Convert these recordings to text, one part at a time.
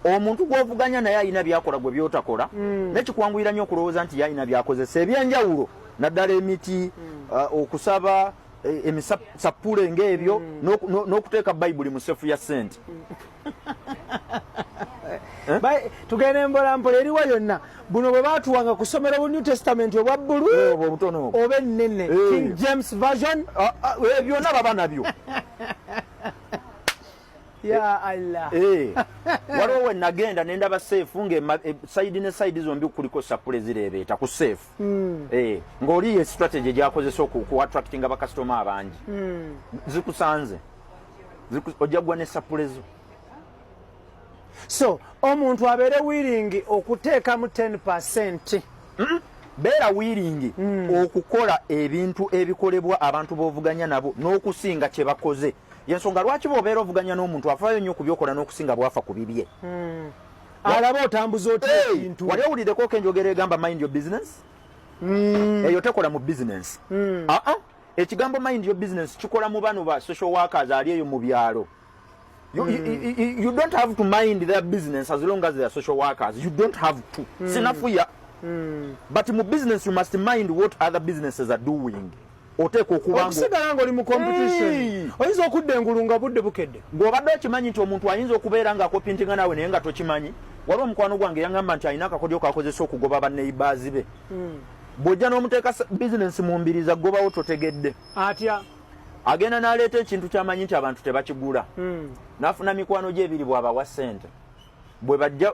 omuntu gwovuganya naye alina byakola gwe byotakola mm. nekikwanguyira nyo okulowooza nti yalina byakozesa ebyenjawulo naddala emiti mm. uh, okusaba e, emisappule ngaebyo mm. n'okuteeka bayibuli mu sefu ya sente mm. eh? tugende mbola mpola eriwa yonna buno bwe batuwanga kusomera bu new testament obwa bbulu eh, oba ennene eh. king james version ah, ah, byonna baba nabyo ya Allah eh waliwo we nagenda ne ndaba safe nge eh, side ne side zombi kuliko sapule zireebeeta ku safe mm. eh ng'oli ye strategy gyakozesa oku attractinga bakasitoma abangi mm. zikusanze ojja kugwa ne sapule zo so omuntu abeere wiringi okuteekamu 10 percent mm? beera wiringi mm. okukola ebintu ebikolebwa abantu b'ovuganya nabo n'okusinga kye bakoze yensonga lwaki bwobeera ovuganya n'omuntu afaayo nnyo kubyokola n'okusinga bwafa ku bibye hmm. alaba otambuza otintu wali owulideko ko enjogera egamba mind your business hmm. eyo tekola mu business hmm. aa ah, ah. ekigambo mind your business kikola mu bano ba social workers ali eyo mu byalo You, you, you, you don't have to mind their business as long as they are social workers. You don't have to. Mm. Sinafuya. Mm. But in business, you must mind what other businesses are doing. oteekwa okuba okusigala nga oli mu competition oyinza okudda engulu nga budde bukedde ng'obadde okimanyi nti omuntu ayinza okubeera nga akopintinga naawe naye nga tokimanyi waliwo omukwano gwange yaŋamba nti alina akakodyo kakozesa okugoba banneibaazi be hmm. bw'ojja n'omuteeka bizinensi mu mbiri za gobawo totegedde atya agenda n'aleeta ekintu kyamanyi nti abantu tebakigula hmm. n'afuna mikwano gy'ebiri bw'abawa ssente bwe bajja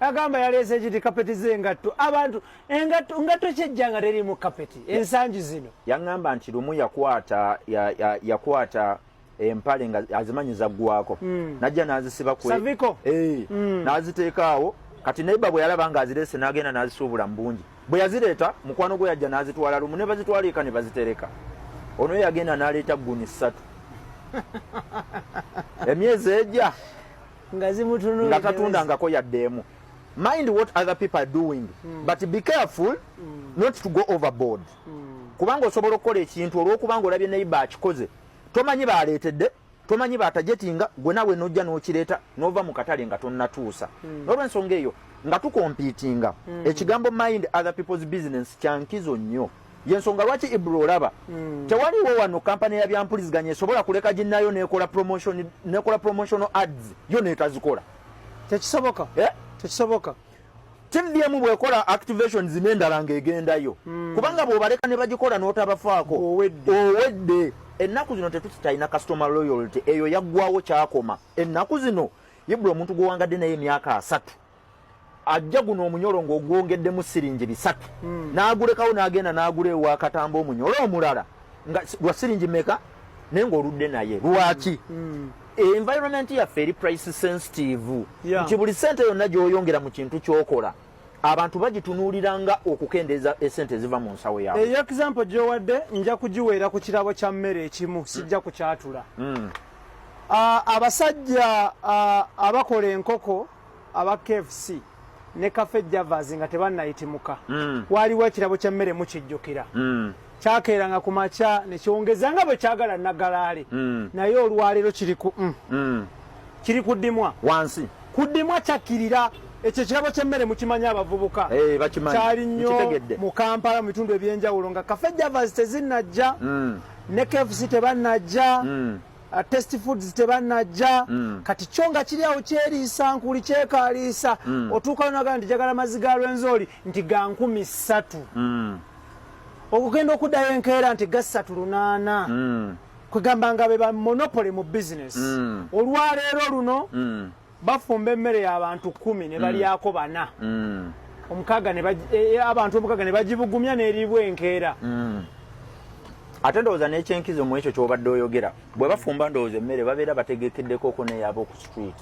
agamba yaleese kiti kapeti z'engatto abantu engatto ngatto kyejja nga teriimu kapeti ensangi zino yaŋŋamba nti lumu yakwata yakwata empale nga azimanyi zaggwako hmm. najja n'azisiba kwsaviko eh, hmm. n'aziteekaawo kati neiba bwe yalaba nga azireese n'agenda n'azisuubula mu bungi bwe yazireeta mukwano gwe yajja n'azitwala lumu ne bazitwala eka ne bazitereka ono yagenda n'aleeta gguni ssatu emyezi egya nga tatundangako yadde emu mind what other people are doing mm. but be careful mm. not to go overboard mm. kubanga osobola okukola ekintu olwokubanga olabye neiba akikoze tomanyi baleetedde tomanyi batajetinga gwe nawe nojja nokireeta nova mu katale nga tonnatuusa mm. nolwensonga eyo nga tukompitinga mm. ekigambo mind other people's business kyankizo nnyo yensonga lwaki ibra olaba mm. tewaliwo wano kampani ya byampuliziganya esobola kuleka ginayo nekola promotion nekola promotional ads yo netazikola tekisoboka eh? tekisoboka tdm bwekola activations nendala nga egendayo mm. kubanga bwobaleka ne bagikola notabafaako owedde ennaku zino tetusitalina customer loyalty eyo yaggwawo kyakoma ennaku zino ibra omuntu gwewangadde naye emyaka asatu ajja guno omunyolo ng'ogwongeddemu siringi bisatu hmm. n'agulekawo n'agenda n'agula ewa katamba omunyolo omulala nga gwa siringi meka naye ng'oludde naye lwaki hmm. Hmm. environment yaffe eri price sensitive nti buli sente yonna gy'oyongera mu kintu ky'okola abantu bagitunuulira nga okukendeeza esente eziva mu nsawo yaabwe eyo example gy'owadde nja kugiweera ku kirabo kya mmere ekimu sijja kukyatula abasajja abakola enkoko aba kfc ne cafe javas nga tebannayitimuka mm. waaliwo ekirabo ky'emmere mukijjukira mm. kyakeeranga ku makya ne kyongeza nga bwe kyagala nagalaale mm. naye olwaleero kiri ku kiri kuddimwa wansi kuddimwa kyakkirira ekyo ekirabo ky'emmere mukimanyi abavubuka eh, kyali nnyo mu kampala mu bitundu eby'enjawulo nga cafe javas tezinnajja ne KFC tebanajja mm. Uh, test foods tebanajja mm. kati kyo nga kiri awo kyeriisa nkuli kyekaliisa mm. otuuka naga nti jagala mazzi ga lwenzooli nti ga nkumi ssatu mm. okugenda okuddayo enkeera nti ga ssatu lunaana mm. kwegamba nga be ba monopole mu bizinesi mm. olwaleero luno mm. bafumba emmere y'abantu kkumi ne balyako mm. bana mm. omukaaga e, e, abantu omukaaga ne bagibugumya n'eriibwa enkeera mm. ate ndowooza n'ekyenkizo mu ekyo ky'obadde oyogera bwe bafumba ndowooza emmere babeera bategekeddeko oko neyaaba oku street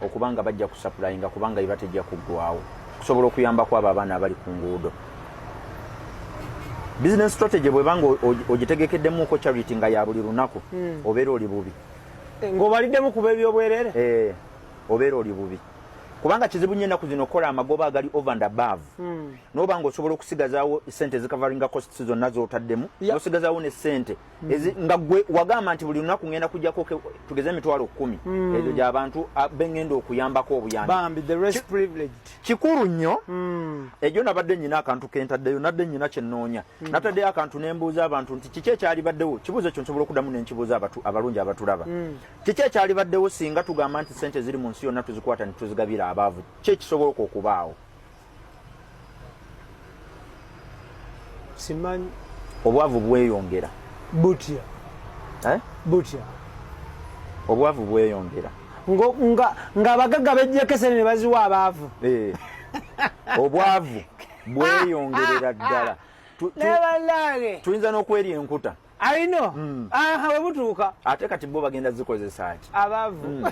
okuba nga bajja kusapulayinga kubanga iba tejja kuggwawo okusobola okuyambako abo abaana abali ku nguudo business strategy bweba nga ogitegekeddemuko charity nga ya buli lunaku hmm. obeera oli bubi Eh, ng'obaliddemu kuba ebyobwerere eh, obeera oli bubi kubanga kizibu nnyo ennaku zino okukola amagoba agali over and above hmm. noba nga osobola okusigazaawo sente ezikavaringa costs zonna zotaddemu nosigazaawo ne sente hmm. nga gwe wagamba nti buli lunaku ngenda kujjako tugeze emitwalo kkumi hmm. ezo gyabantu ah, bengenda okuyambako obuyambi kikulu nnyo mm. ejo nabadde nyina akantu kentaddeyo nadde nyina kyenoonya mm. nataddeyo akantu nembuuza abantu nti kiki ekyalibaddewo kibuuzo ekyo nsobola okudamu nenkibuuza abalungi abatulaba mm. kiki ekyalibaddewo singa tugamba nti sente ziri mu nsi yonna tuzikwata netuzigabira abaavu ki ekisobola oka okubaawo simanyi obwavu bweyongera butya eh? butya obwavu bweyongera nga abagagga bejjekesene ne baziwa abaavu eh. obwavu bweyongerera ddala tuyinza n'okweri enkuta ayino hmm. aha webutuuka ate kati bo bagenda zikozesa ki abaavu hmm.